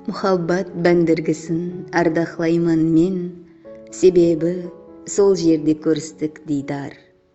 Muhabbat bándirgisin ardaqlayman men, Sebebi sol jerde kóristik diydar.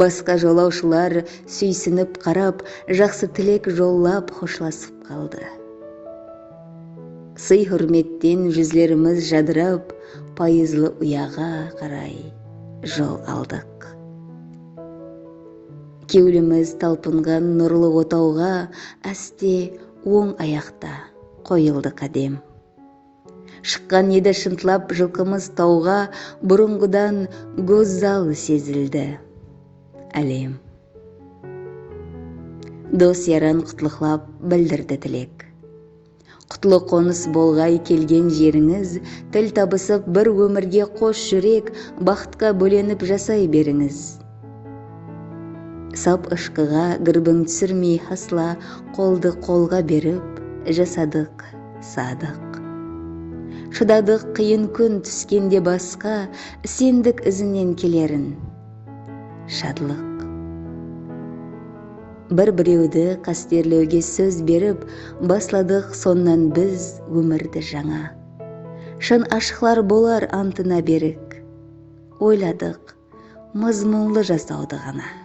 Basqa jolawshılar súysinip qarap, jaqsı tilek jollap xoshlasıp qaldı. Sıy-húrmetten júzlerimiz jadırap, payızlı uyaǵa qaray jol aldıq. Kewlimiz talpınǵan nurlı otawǵa áste oń ayaqta qoyıldı qádem. Shıqqan edi shıntlap jılqımız tawǵa Burınǵıdan gózzal sezildi Álem. Dos-yaran qutlıqlap bildirdi tilek Qutlı qonıs bolǵay kelgen jerińiz Til tabısıp bir ómirge qos júrek Baxıtqa bólenip jasay berińiz. Sap ıshqıǵa gırbiń túsirmey hasla qoldı qolǵa berip jasadıq sadıq Shıdadıq qıyın kún túskende basqa isendik izinen kelerin shadlıq Bir birewdi qasterlewge sóz berip basladıq sonnan biz ómirdi jańa Shın ashıqlar bolar antına berik oyladıq mızmunlı jasawdı ǵana.